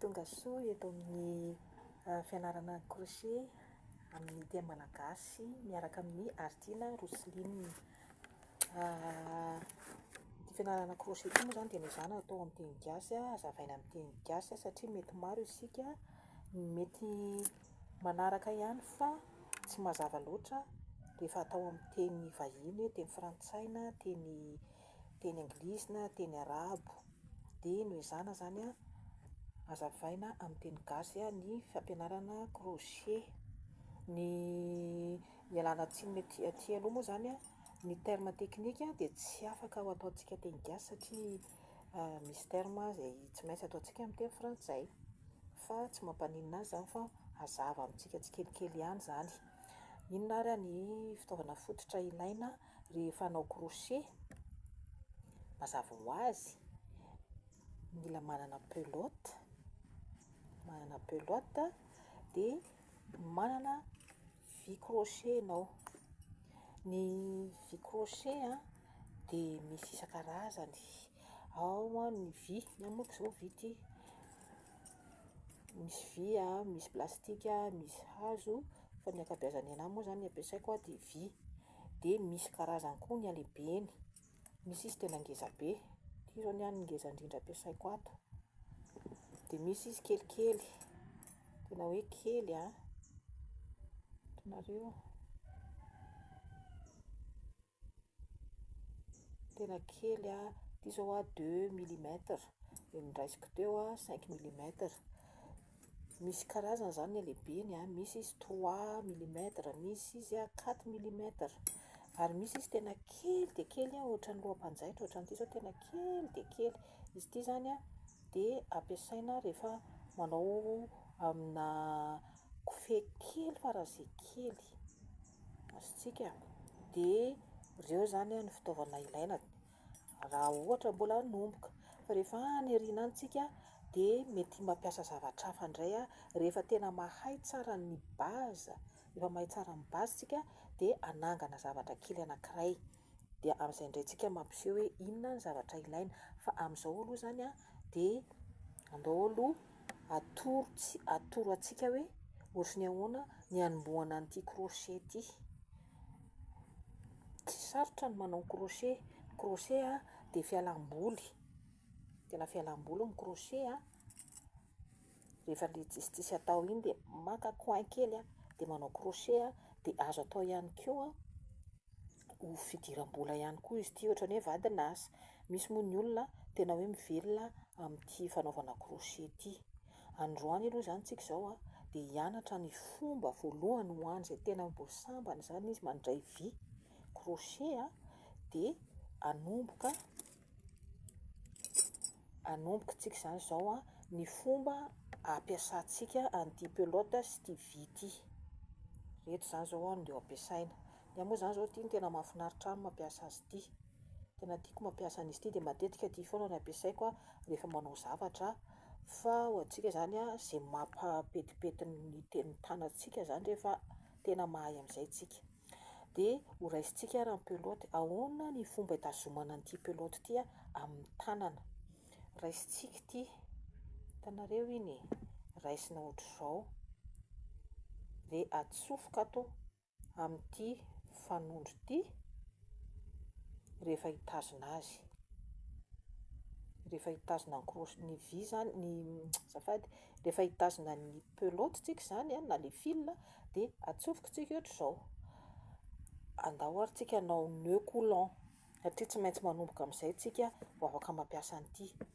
Tonga soa eto amin'ny fianarana crochet amin'ny teny malagasy miaraka amin'i Artina Roseline. Ity fianarana crochet ity moa izany dia niezahana hatao amin'ny teny gasy, hazavaina amin'ny teny gasy satria mety maro isika ny mety manaraka ihany fa tsy mazava loatra rehefa atao amin'ny teny vahiny hoe teny frantsay na teny teny anglisy na teny arabo, dia noho izany zany a hazavaina amin'ny teny gasy ny fampianarana crochet, ny ialana tsiny aty aty aloha moa zany a ny terme teknika dia tsy afaka ho ataontsika teny gasy satria Misy terme izay tsy maintsy ataontsika amin'ny teny frantsay, fa tsy mampaninona azy izany fa hazava amintsika tsikelikely ihany izany. Inona ary ny fitaovana fototra ilaina rehefa hanao crochet? Mazava ho azy, mila manana pelote, manana pelote dia manana. Vy crochet ianao. Ny vy crochet a dia misy isan-karazany, ao a ny vy, ny ahy manko izao vy ity, misy vy a, misy plastika, misy hazo, fa ny ankabeazan'ny ahy moa izany ny ampiasaiko dia vy, dia misy karazany koa ny halehibeny. Misy izy tena ngeza be, ity zao ny ahy ny ngeza indrindra ampiasaiko ato, de misy izy kelikely, tena hoe kely an, hitanareo, tena kely an, ity zao aho deux milimetre, de ny raisiko teo aho cinq milimetre, Misy karazany izany ny halehibeny a, misy izy trois millimètres, misy izy a quatre millimètres, ary misy izy tena kely dia kely ohatran'ny loham-panjaitra ohatran'ity izao tena kely dia kely, izy ity izany a dia ampiasaina rehefa manao amina kofehy kely faran'izay kely, azontsika, dia ireo izany no fitaovana ilaina. Raha ohatra mbola hanomboka, fa rehefa any aoriana any tsika dia mety mampiasa zavatra hafa indray rehefa tena mahay tsara ny base, rehefa mahay tsara ny base tsika dia hanangana zavatra kely anankiray, dia amin'izay indray tsika mampiseho hoe inona ny zavatra ilaina, fa amin'izao aloha izany a dia andao aloha atoro tsy atoro antsika hoe ohatry ny ahoana ny hanombohana an'ity crochet ity. Tsy sarotra ny manao crochet, ny crochet a dia fialam-boly, tena fialam-boly ny crochet a, rehefa ilay tsisitsisy atao iny dia maka coin kely a dia manao crochet a, dia azo atao ihany koa ho fidiram-bola ihany koa izy ity ohatra ny hoe vadin'asa, misy moa ny olona tena hoe mivelona amin'ity fanaovana crochet ity, Androany aloha izany tsika izao a, dia hianatra ny fomba voalohany ho an' izay tena mbola sambany izany izy mandray vy, crochet a, dia hanomboka, hanomboka tsika izany izao a, ny fomba hampiasantsika an'ity pelote sy ity vy ity, ireto izany izao a no ampiasaina, Ny ahy moa zany zao ity no tena mahafinaritra ahy ny mampiasa azy ity. Tena tiako mampiasa an'izy ity dia matetika ity foana no ampiasaiko an, rehefa manao zavatra aho. Fa ho antsika zany an, izay mampahapetipety ny teny tanantsika zany rehefa tena mahay amin'izay tsika. Dia ho raisintsika ary ny pelote, ahoana ny fomba hitazomana an'ity pelote ity an, amin'ny tanana. Raisintsika ity, hitanareo iny e, raisina ohatr'izao, dia atsofoka ato amin'ity fanondro ity rehefa hitazona azy rehefa hitazona ny croche ny vy zany ny azafady rehefa hitazona ny pelote tsika zany a na le fil a de atsofoko tsika ohatr'izao andao ary tsika anao nœud coulant satria tsy maintsy manomboka am'izay tsika vao afaka mampiasa an'ity.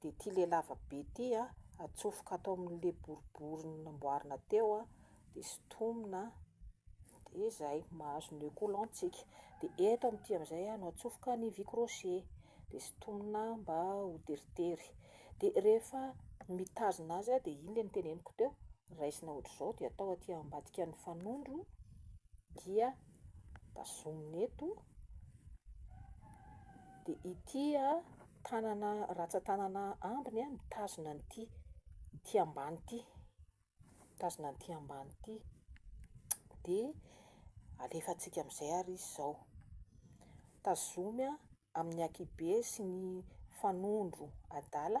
dia ity le lava be ity an, atsofoka ato amin'le boribory namboarina teo an, dia sintomina an, dia zay, mahazo nœud coulant tsika, dia eto amin'ity amin'izay an no atsofoka ny vy crochet, dia sintomina mba ho teritery, dia rehefa mitazona azy an, dia iny le niteneniko teo, raisina ohatr'izao dia atao aty ambadikan'ny fanondro, dia. tazomina eto, dia ity tanana ratsan-tanana ambiny mitazona an'ity ity ambany ity, mitazona an'ity ambany ity, dia alefantsika amin'izay ary izy izao, tazomy amin'ny ankihibe sy ny fanondro adala.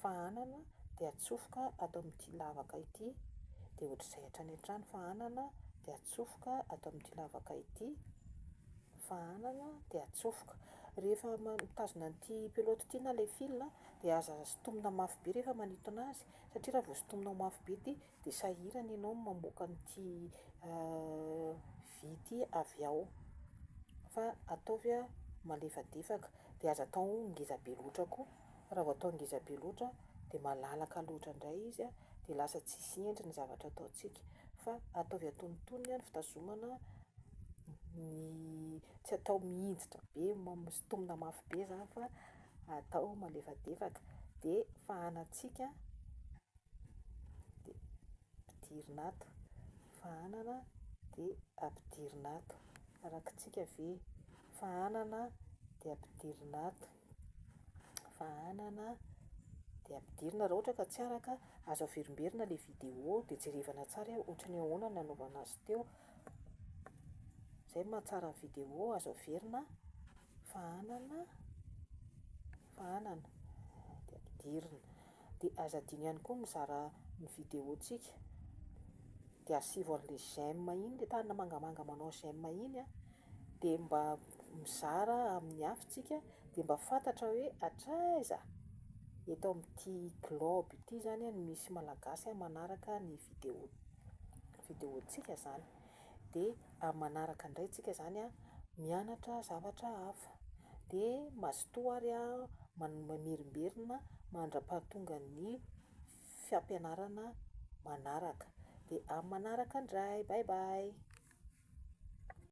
fa anana dia atsofoka ato amin'ity lavaka ity dia ohatr'izay hatrany hatrany fa anana dia atsofoka ato amin'ity lavaka ity fa anana dia atsofoka rehefa mitazona an'ity pelote ity na ilay fil dia aza sintomina mafy be rehefa manintona azy satria raha vao sintominao mafy be ity dia sahirana ianao ny mamoaka an'ity vy ity avy ao fa ataovy malefadefaka dia aza atao ngeza be loatra koa Raha vao atao ngeza be loatra dia malalaka loatra indray izy dia lasa tsisy endriny ny zavatra ataontsika fa ataovy antonontonony ny fitazomana ny tsy atao mihinjitra be misintomina mafy be izany fa atao malefadefaka dia fahanantsika dia ampidirina ato, fahanana dia ampidirina ato, rakitsika ve? fahanana dia ampidirina ato. Fahanana dia ampidirina raha ohatra ka tsy araka, azo averimberina ilay vidéo dia jerevana tsara hoe ohatran'ny ahoana ny nanaovana azy teo, izay no mahatsara ny vidéo, azo averina fahanana, fahanana dia ampidirina. Dia aza adino ihany koa mizara ny vidéo tsika dia asivo anle j'aime iny le tanana mangamanga manao j'aime iny a dia mba mizara amin'ny hafa tsika dia mba fantatra hoe hatraiza eto amin'ity globe ity zany no misy malagasy manaraka ny vidéo vidéo tsika zany. de amin'ny manaraka indray tsika zany a mianatra zavatra hafa de mazotoa ary a man- mamerimberina mandrapahatongan'ny fiampianarana manaraka de amin'ny manaraka indray bye bye.